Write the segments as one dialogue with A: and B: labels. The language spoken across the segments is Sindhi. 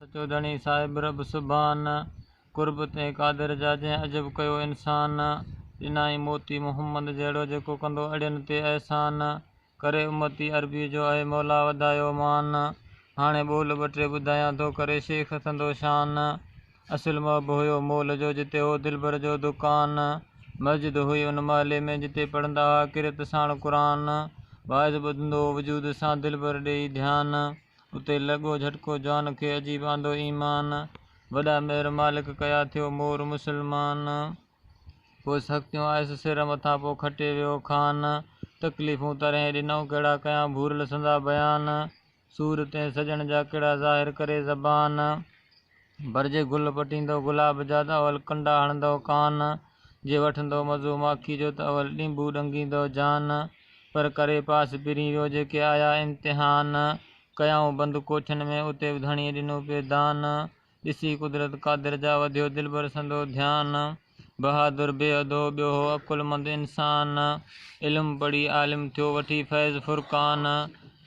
A: سچو ڌڻي صاحب رب سبحان. قرب تنهن قادر جا جنهن عجب ڪيو انسان. ڏنائين موتي محمد جهڙو جيڪو ڪندو اڙين تي احسان. ڪري امتي عربي جو اي مولا وڌايو مان. هاڻي ٻول ٻه ٽي ٻڌايان ٿو ڪري شيخ سندو شان. اصل محب هيو مول جو جتي هو دلبر جو دڪان. مسجد هئي ان محلي ۾ جتي پڙهندا ها ڪرت ساڻ قرآن. واعظ ٻڌندو هو وجود سان دلبر ڏيئي ڌيان. اتي لڳو جهٽڪو جان کي عجيب آندو ايمان وڏا مهر مالڪ ڪيا ٿيو مور مسلمان پوء سختيون آيس سر مٿان پوء کٽي ويو خان تڪليفون ترهين ڏنئون ڪهڙا ڪيان ڀورل سندا بيان سور تنهن سڄڻ جا ڪهڙا ظاهر ڪري زبان. بر جي گل پٽيندو گلاب جا ته اول ڪنڊا هڻندو ڪان جي وٺندو مزو ماکي جو ته اول ڏينڀو ڏنگيندو جان پر ڪري پاس پرين ويو جيڪي آيا امتحان ڪيائون بند ڪوٺين ۾ اتي به ڌڻيء ڏنو پئي دان ڏسي قدرت قادر جا وڌيو دلبر سندو ڌيان. بهادر بي اڌو ٻيو هو عقلمند انسان علم پڙهي عالم ٿيو وٺي فيض فرقان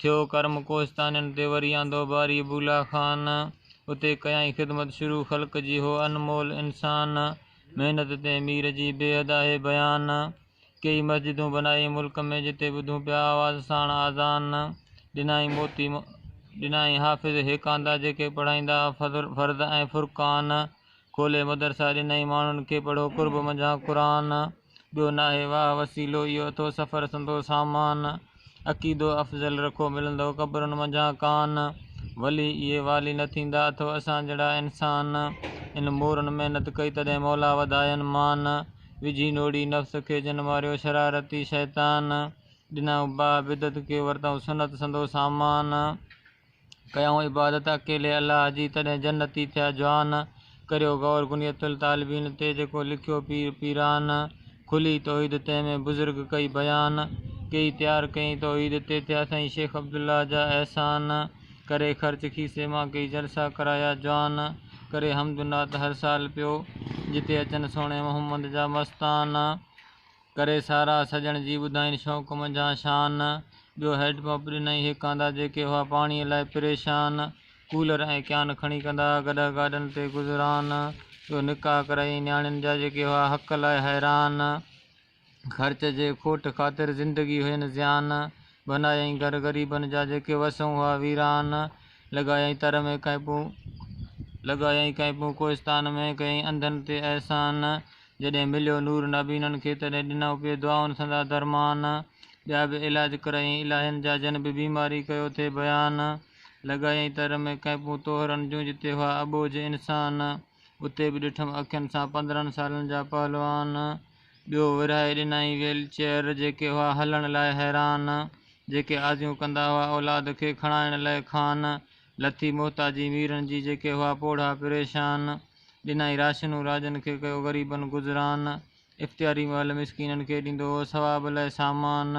A: ٿيو ڪرم ڪوهستانين تي وري آندو باري بولا خان اتي ڪيائين خدمت شروع خلق جي هو انمول انسان محنت تي مير جي بي حد آهي بيان ڪيئي مسجدون بنائي ملڪ ۾ جتي ٻڌون پيا آواز ساڻ آذان ڏنائين موتي ڏنائين حافظ هيڪاندا جيڪي پڙهائيندا فرض ۽ فرقان کولي مدرسا ڏنائين ماڻهن کي پڙهو قرب منجهان قرآن ٻيو ناهي واهه وسيلو اهو اٿو سفر سندو سامان عقيدو افضل رکو ملندو قبرن منجهان ڪان ولي اهي والي نه ٿيندا اٿو اسان جهڙا انسان ان مورن محنت ڪئي تڏهن مولا وڌاين مان وجهي نوڙي نفس کي جن ماريو شرارتي شيطان ڏنائون باهه بدعت کي ورتائون سنت سندو سامان. ڪيائون عبادت اڪيلي الله جي، تڏهن جنتي ٿيا جوان. ڪريو غور غنية الطالبين تي، جيڪو لکيو پير پيران. کلي توحيد تنهن ۾ بزرگ ڪئي بيان، ڪيئي تيار ڪيئي توحيد تي، ٿيا سائين شيخ عبدالله جا احسان. ڪري خرچ کيسي مان ڪيئي جلسا ڪرايا جوان، ڪري حمد نعت هر سال پيو، جتي اچن سهڻي محمد جا مستان. ڪري سارا سڄڻ جي ٻڌائين شوق منجهان شان ٻيو هيڊ پمپ ڏنائين هڪ آندا جيڪي هئا پاڻي لاء پريشان ڪولر ۽ ڪيان کڻي ڪندا گڏهه گاڏن تي گذران ٻيو نڪاح ڪرايائين نياڻين جا جيڪي هئا حق لاء حيران خرچ جي کوٽ خاطر زندگي هين زيان بنايائين گهر غريبن جا جيڪي وسون هئا ويران لڳايائين تر ۾ ڪئمپون لڳايائين ڪئمپون ڪوهستان ۾ ڪيائين انڌن تي احسان جڏهن مليو نور نابينن کي، تڏهن ڏنئون پئي دعائن سندا درمان. ٻيا به علاج ڪرايئين الاهين جا، جن به بيماري ڪيو ٿي بيان. لڳايئين تر ۾ ڪئمپون طوهرن جون، جتي هئا اٻوجهه انسان. اتي به ڏٺم اکين سان پندرهن سالن جا پهلوان. ٻيو ورهائي ڏنائين ويل چيئر، جيڪي هئا هلڻ لاء حيران. جيڪي آزيون ڪندا هئا اولاد کي کڻائڻ لئه کان. لٿي محتاجي ميرن جي، جيڪي هئا پوڙها پريشان. ڏنائين راشنون راجن کي ڪيو غريبن گذران اختياري مهل مسڪينن کي ڏيندو هو ثواب لاء سامان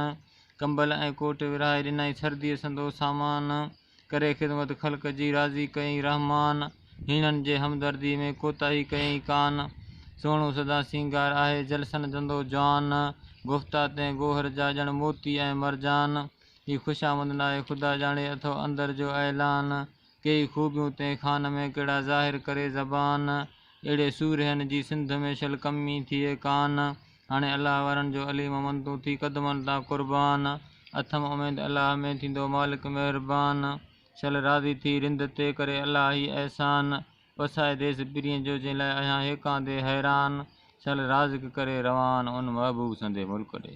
A: ڪمبل ۽ ڪوٽ ورهائي ڏنائين سرديء سندو سامان ڪري خدمت خلق جي راضي ڪيئين رحمان هيڻن جي همدردي ۾ ڪوتاهي ڪيئين ڪان سهڻو سدا سينگار آهي جلسن جندو جوان گفتا تنهن گوهر جا ڄڻ موتي ۽ مرجان هي خوشامد ناهي خدا ڄاڻي اٿو اندر جو اعلان ڪيئي خوبيون تنهن خان ۾ ڪهڙا ظاهر ڪري زبان اهڙي سورهين جي سنڌ ۾ شل ڪمي ٿئي ڪان هاڻي الله وارن جو علي محمد تون ٿي قدمن تان قربان اٿم اميد الله ۾ ٿيندو مالڪ مهربان شل راضي ٿي رند تي ڪري الله هي احسان وسائي ديس پرين جو جنهن لاء اهيان هيڪان دي حيران شل رازق ڪري روان ان محبوب سندي ملڪ ڏي.